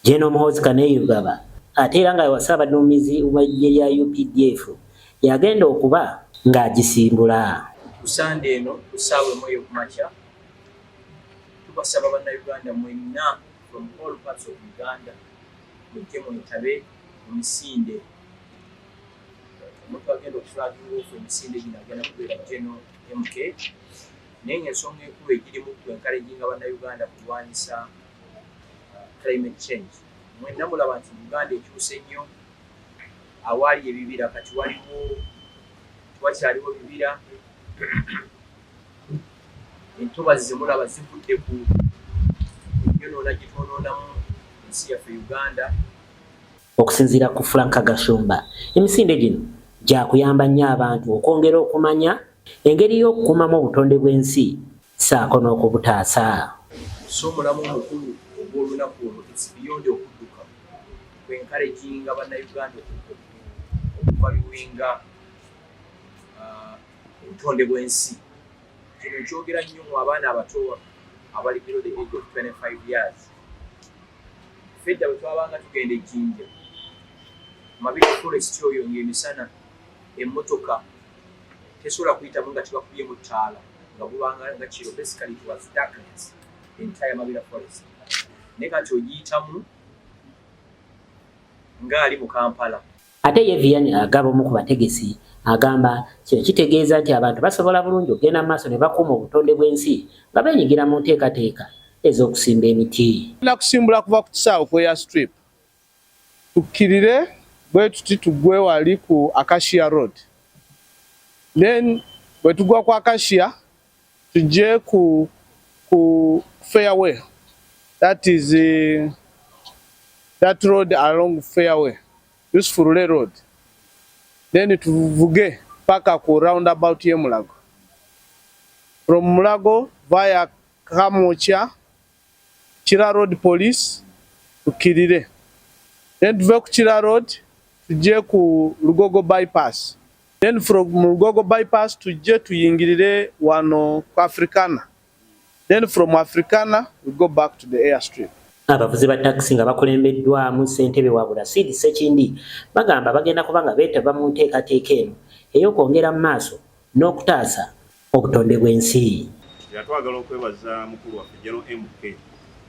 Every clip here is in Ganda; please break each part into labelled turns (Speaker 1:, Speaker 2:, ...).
Speaker 1: Gen. Muhoozi Kainerugaba ate era nga wa Ssaabaduumizi w'eggye lya updf y'agenda okuba ng'agisimbula. Ku Ssande
Speaker 2: eno ku ssaawa emu ey'okumakya, tubasaba Bannayuganda mwenna from all parts of Uganda mujje mwetabe mu misinde. Omuntu agenda okufulaginga ofu emisinde gino agenda kubeera Gen. MK naye ng'ensonga enkulu egirimu kwe nkaleginga Bannayuganda kulwanyisa climate change mwena mulaba nti uganda ekyuse nnyo awaali ebibira kati waliwo wakyaliwo bibira entobazi zemulaba zivudde ku yonoona gyetwonoonamu ensi yaffe uganda
Speaker 1: okusinziira ku franka gashumba emisinde gino gyakuyamba nnyo abantu okwongera okumanya engeri y'okukumamu obutonde bw'ensi saako n'okubutaasa. So
Speaker 2: omulamwa omukulu ogw'olunaku olwo it's beyond okudduka ku encouraginga bannayuganda okuvaluwinga uh, obutonde bw'ensi. Kino kyogera nnyo mu abaana abato abali below the age of 25 years. Fedda bwe twabanga tugenda ejjinja mabiri forest oyo ng'emisana emmotoka tesobola kuyitamu nga tebakubye mu ttaala. nga gubanga nga kiro basically it was darkness entire mabira forest naye kati ogiyitamu ng'ali mu kampala ate ye vian
Speaker 1: agaba omu ku bategesi agamba kino kitegeeza nti abantu basobola bulungi okugenda mu maaso ne bakuuma obutonde bw'ensi nga benyigira mu nteekateeka ez'okusimba emiti nakusimbula kuva ku
Speaker 3: kisaawe kweya strip tukkirire bwe tuti tuggwe wali ku Acacia Road then bwe tugwa ku Acacia tujje ku ku fairway that is uh, that road along fairway Yusufurule road then tuvuge paka ku roundabout ye Mulago from Mulago via Kamucha Kira Road Police tukirire then tuve ku Kira Road tujje ku Lugogo bypass then from Lugogo bypass tujje tuyingirire wano ku Africana then from Africana we go back to the airstrip. Abavuzi ba takisi
Speaker 1: nga bakulembeddwamu ssentebe wa Burasidi Ssekindi bagamba bagenda kuba nga beetaba mu nteekateeka eno ey'okwongera mu maaso n'okutaasa obutonde bw'ensi. Nti era twagala
Speaker 4: okwebaza mukulu waffe General MK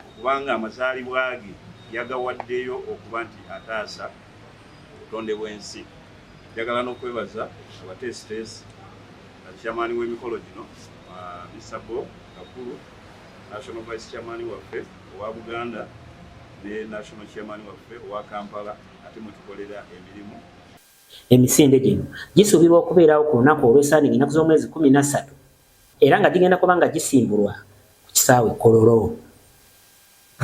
Speaker 4: okubanga amazaalibwa ge yagawaddeyo okuba nti ataasa obutonde bw'ensi. Njagala n'okwebaza abateesiteesi nga Chairman w'emikolo gino Mister Bob Kakulu, National Vice Chairman waffe owa Buganda ne National Chairman waffe owa Kampala ate mwe tukolera emirimu. Emisinde
Speaker 1: gino gisuubirwa okubeerawo ku lunaku olw'esaaninga ennaku z'omwezi kkumi na ssatu era nga gigenda kuba nga gisimbulwa ku kisaawe Kololo.